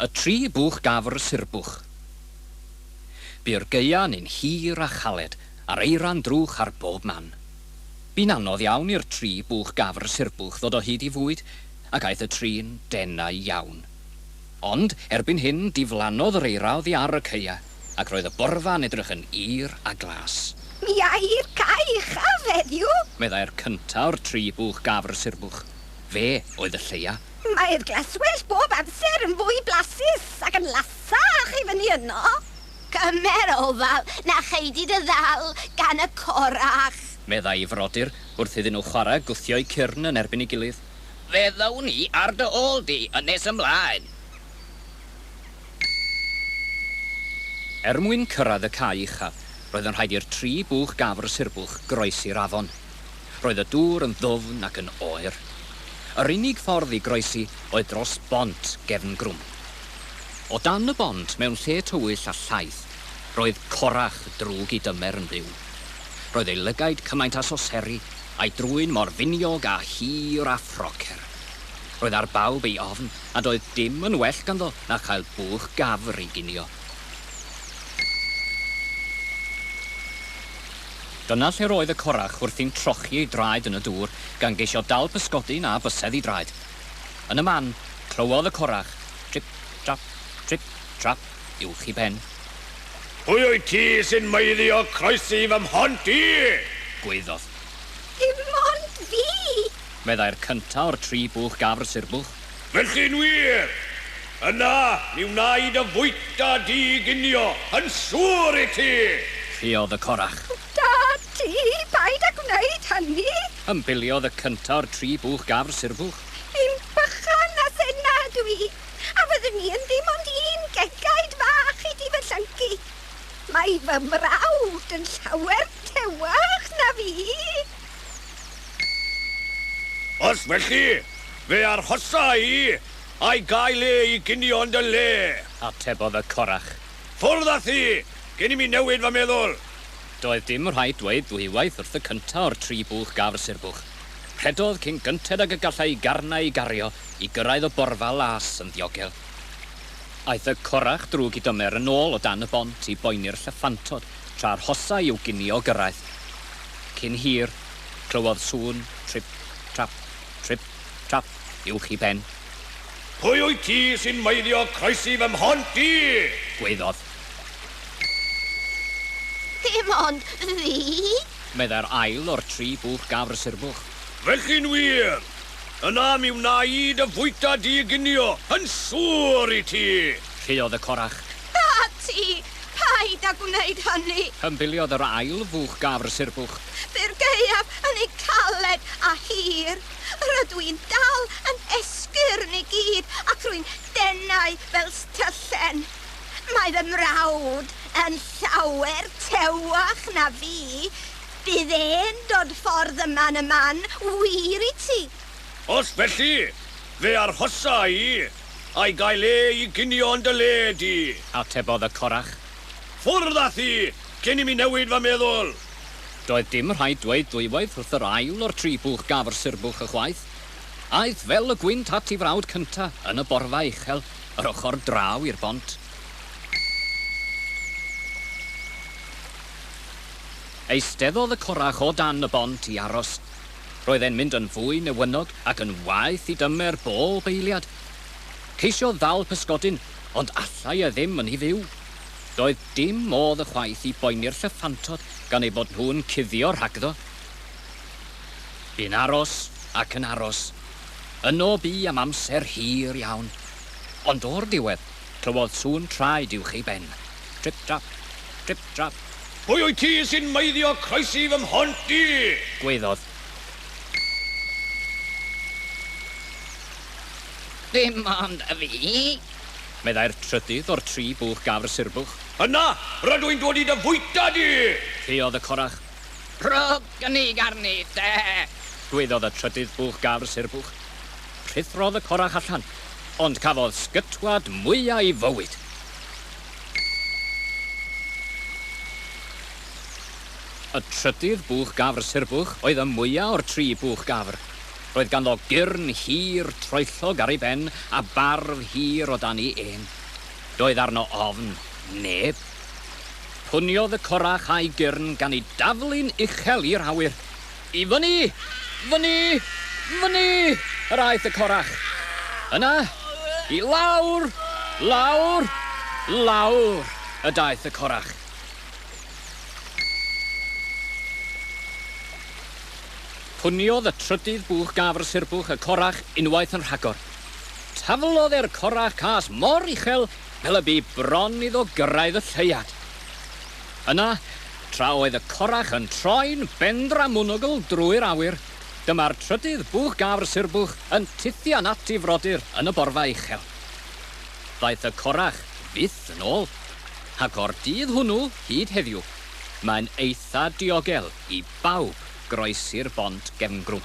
Y tri buwch gafr surbwch. Bu'r gaeaf neu'n hir a chaled, a'r eira'n drwch ar bob man. Bu'n anodd iawn i'r tri buwch gafr surbwch ddod o hyd i fwyd, ac aeth y tri'n denau iawn. Ond, erbyn hyn, diflannodd yr eira oddi ar y caeaf, ac roedd y borfa yn edrych yn hir a glas. Mi ai'r cae uchaf heddiw! meddai'r cyntaf o'r tri buwch gafr surbwch. Fe oedd y lleia. Mae'r glaswellt bob amser yn fwy blasus ac yn lasach i fyny yno. Cymer ofal na chei di dy ddal gan y corach. Meddai'i frodyr wrth iddyn nhw chwarae gwthio'u cyrn yn erbyn ei gilydd. Fe ddown ni ar dy ôl di yn nes ymlaen! Er mwyn cyrraedd y cae uchaf, roedd yn rhaid i'r tri bwch gafr sirbwch groesi'r afon. Roedd y dŵr yn ddwfn ac yn oer. Yr unig ffordd i groesi oedd dros bont gefn grwm. O dan y bont, mewn lle tywyll a llaith, roedd Corach, drwg i dymer, yn byw. Roedd ei lygaid cymaint â soseri, a'i drwyn mor finiog â hir a phrocer. Roedd ar bawb ei ofn, a doedd dim yn well ganddo na chael bwch gafr i ginio. Dyna lle'r oedd y corach wrthi'n trochi ei draed yn y dŵr, gan geisio dal pysgodi na fysedd i draed. Yn y man, clywodd y corach, trip, trap, trip, trap, uwch i ben. Pwy wyt ti sy'n meiddio croesi fy mhont i? gwaeddodd. Dim ond fi! meddai'r cynta' o'r tri bwch gafr surbwch. Felly, yn wir, yna mi wnaed y fwyta di ginio, yn siŵr i ti! Rhuodd y corach. O, dad, ti, paid â gwneud hynny! Ymbiliodd y cynta o'r tri bwch gafr surfwch. Yn bychan na senna ydw i, a fyddwn i yn ddim ond un gegaid fach i di fy llyncu. Mae fy mrawd yn llawer tewach na fi! Os felly, fe arhosa i, a'i gael e i ginio yn dy le. Atebodd y corach. Ffwrdd â thi, cyn i mi newid fy meddwl! Doedd dim rhaid dweud ddwywaith wrth y cynta o'r tri bwch gafr sirbwch. Rhedodd cyn gynted ag y gallai'i garnau ei gario i gyrraedd y borfa las yn ddiogel. Aeth y corach drwg i dymer yn ôl o dan y bont i boeni'r llyffantod tra arhosai i'w ginio gyrraedd. Cyn hir, clywodd sŵn trip, trap, trip, trap uwch i ben. Pwy wyt ti sy'n maeddio croesi fy mhont i? gwaeddodd. Dim ond fi! meddai'r ail o'r tri bwch gafr surbwch. Felly'n wir! Yna mi wna i dy fwyta di i ginio, yn siŵr i ti! rhuodd y corach. A ti, Paid â gwneud hynny! Hymbiliodd yr ail fuwch gafr surbwch. Byr gaeaf yn ei galed a hir. Rydw i'n dal yn esgyrn i gyd ac rwy'n denau fel styllen. Mae fy mrawd yn llawer tewach na fi. Bydd e'n dod ffordd yma yn y man wir i ti. Os felly, fe arhosa i Ai gael le i ginio yn dy le di? Atebodd y corach. Ffwrdd â thi, cyn i mi newid fy meddwl! Doedd dim rhaid dweud dwywaith wrth yr ail o'r tri bwch gaf yr surbwch ychwaith. Aeth fel y gwynt at 'i frawd cynta yn y borfa uchel yr ochr draw i'r bont. Eisteddodd y corach o dan y bont i aros. Roedd e'n mynd yn fwy newynog ac yn waeth i dymer bob eiliad. Ceisio ddal pysgodyn, ond allai e ddim yn hi fyw. Doedd dim modd ychwaith i boeni'r llyffantod gan eu bod nhw'n cuddio rhagddo. Bu'n aros ac yn aros. Yno bu am amser hir iawn. Ond o'r diwedd, Clywodd sŵn traed uwch ei ben. Trip trap! Trip trap! Pwy wyt ti sy'n maeddio croesi fy mhont i? Gwaeddodd. Dim ond fi! Meddai'r trydydd o'r tri bwch gafr surbwch. Yna, rydw i'n dod i dy fwyta di! Caeodd y corach. Rhowch gynnig arni, te! Gwaeddodd y trydydd bwch gafr surbwch. Rhuthrodd y corach allan, ond cafodd sgytwad mwya i fywyd. Y trydydd bwch gafr surbwch oedd y mwya o'r tri bwch gafr. Roedd ganddo gyrn hir, troellog ar ei ben, a barf hir o dan i ên. Doedd arno ofn neb. Puniodd y corach a'i gyrn gan ei daflu'n uchel i'r awyr. I fyny! Fyny! Fyny! yr aeth y corach. Yna, i lawr! Lawr! Lawr! y daeth y corach. Puniodd y trydydd bwch gafr sirbwch y corach unwaith yn rhagor. Taflodd e'r corach cas mor uchel fel y bu bron iddo gyrraedd y lleuad. Yna, tra oedd y corach yn troi'n bendramwnogl drwy'r awyr, dyma'r trydydd bwch gafr surbwch yn tithian at ei frodyr yn y borfa uchel. Ddaeth y corach fyth yn ôl, ac o'r dydd hwnnw hyd heddiw, mae'n eitha diogel i bawb groesi'r bont gefngrwm.